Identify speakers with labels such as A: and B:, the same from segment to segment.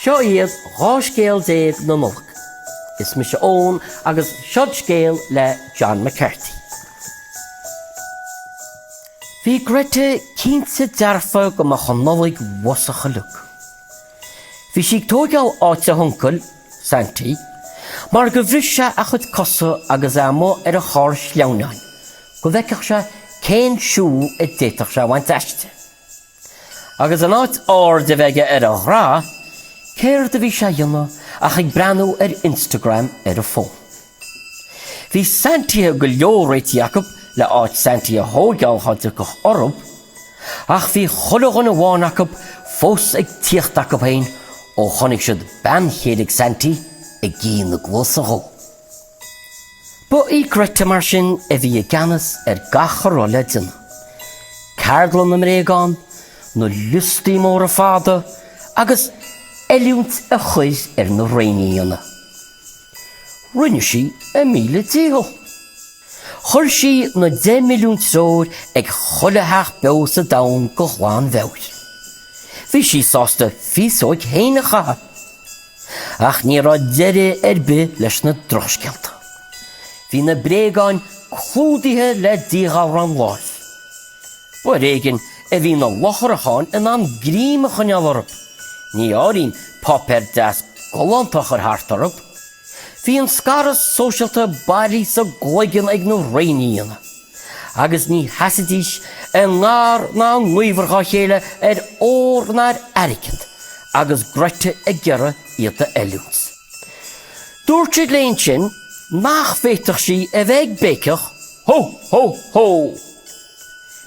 A: Seo iad 12 scéal na Nollag. Is mise Eoin agus siúd scéal le John McCarthy. Bhí Gretta cinnte dearfa go mbeadh an Nollaig uafasach uilig. Bhí sí ag tóigeáil áit a huncail, Santy, mar gur bhris sé a chuid cosa agus é amuigh ar an charr sleamhnáin go bhfeicfeadh sé cén siúl a d'fhéadfadh sé a bhaint aisti. Agus in áit aird a bheith aige ar a ghnó, céard a bhí sé a dhéanamh ach ag breathnú ar Instagram ar a fhón. Bhí Santaithe go leor réitithe acu le áit Santy a thóigeáil cheapfá orthu, ach bhí chuile dhuine amháin acu fós ag tíocht acu féin ó chonaic siad bean chéile ag Santy ag tabhairt na gcluasa dhó. Ba í Gretta mar sin a bhí i gceannas ar gach a raibh le déanamh, ceardlann na mbréagán, na liostaí móra fada agus oiliúint a chuir ar na réinfhianna. Rinne sí a míle dícheall. Chuir sí na deich milliún treoir ag chuile theach beo sa domhan de ghlanmheabhair. Bhí sí sásta féasóig féin a chaitheamh. Ach ní raibh deireadh ar bith leis na drochscéalta. Bhí na bréagáin clúdaithe le díghalrán láimh. B'ar éigin a bhí na lucharacháin in ann greim a choinneáil orthu, ní áirím páipéar deas galánta a chur thart orthu. Bhí an scaradh sóisialta bailithe sa gcloigeann ag na réinfhianna, agus ní sheasaidís i ngar ná i ngaobhar dhá chéile ar ór ná ar airgead, agus Gretta ag iarraidh iad a oiliúint. Dúirt siad léi ansin nach bhféadfadh sí a bheith ag béiceach, Hó! Hó! Hó!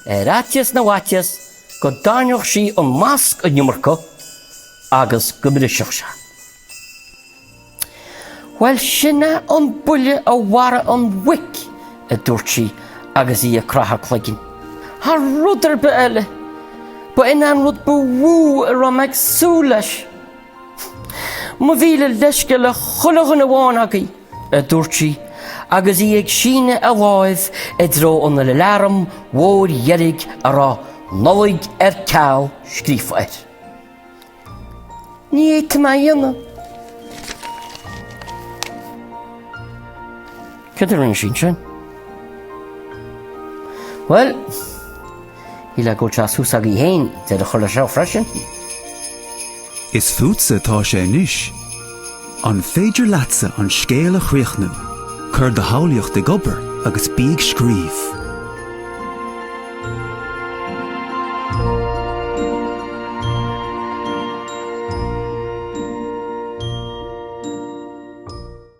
A: Ar fhaitíos na bhfaitíos go dteannfadh sí an masc an iomarca agus go mbrisfeadh sé. Bhuel, sin é an buille a mharaigh an mhuic, a dúirt sí agus í ag craitheadh a cloiginn. Thar rud ar bith eile, ba in é an rud ba mhó a raibh mé ag súil leis. Mo mhíle leisce le chuile dhuine amháin agaibh, a dúirt sí, agus í ag síneadh a láimh i dtreo an aláraim mhóir dheirg a raibh 'Nollaig ar ceal' scríofa air. Ní fhéadfainn é a dhéanamh. Céard a rinne sí ansin? Bhuel. Mila go dteastódh uaithi í fhéin, deireadh a chur leis seo
B: freisin. Is fútsa atá sé anois. An féidir leatsa an scéal a chríochnú? Cuir do shamhlaíocht ag obair agus bí ag scríobh!